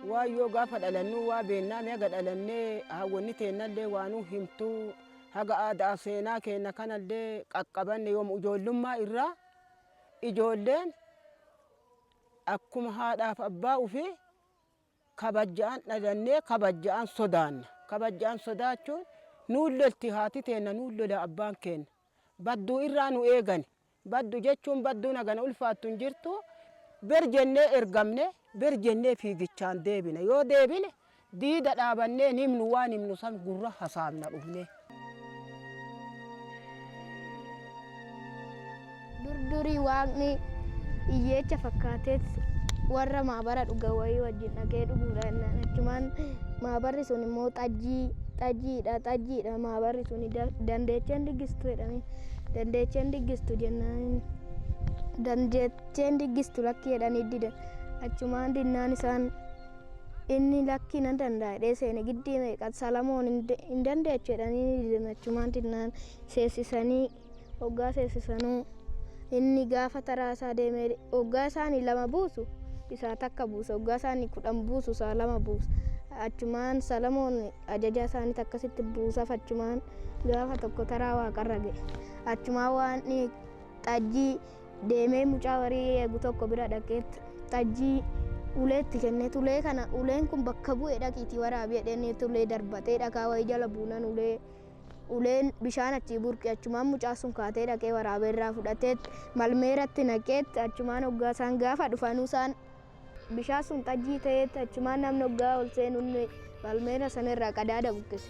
waan yoo gaafa dhalannuu waa beennaa haga dhalannee hawwanni teennallee waanuu himtuu haga aadaa seenaa keenna kanallee qaqqabanne yoom ijoollummaa irraa ijoolleen akkuma haadhaaf abbaa ofii kabajjaan dhalannee kabajjaan sodaanna kabajjaan sodaachuun nuun lolti haati teenna nuun lola abbaan keenna badduu irraa nu eegani Baddu jechuun badduu nagana ulfaattu hin jirtu ber jennee ergamne ber jennee fiigichaan deebina yoo deebine diida dhaabannee hin himnu waan himnu san gurra hasaafna dhufnee. Dur durii waaqni iyyeecha fakkaateet warra maabara dhuga wayii wajjin dhaqee dhuguudha jennaan achumaan maabarri sun immoo xajjii xajjiidha xajjiidha maabarri sun dandeecheen dhiggistu jedhame. dandeecheen diggistu jennaan dandeecheen diggistu lakkii jedhanii didan achumaan dinnaan isaan inni lakkii nan danda'a dhee seene giddii meeqa salamoon hin de- hin dandeechu jedhanii didan achumaan dinnaan seessisanii hoggaa seessisanuu inni gaafa taraa isaa deemee hoggaa isaanii lama buusu isaa takka buusa hoggaa isaanii kudhan buusu isaa lama buusa achumaan salamoon ajajaa isaanitti akkasitti buusaaf achumaan gaafa tokko taraa waaqarra ga'e achumaan waan xajjii deemee mucaa warii eegu tokko bira dhaqeetti xajjii uleetti kenne tulee kana uleen kun bakka bu'e dhaqiitii waraabi jedhanii tulee darbatee dhakaa wayii jala buunan ulee uleen bishaan achii burqe achumaan mucaa sun kaatee dhaqee waraabee irraa fudhateetti malmee irratti naqeetti achumaan hoggaa isaan gaafa dhufanuu isaan Bishaan sun xajjii ta'eetti achumaan namni oggaa ol seenu inni balmeena sana irraa qadaada buqqise.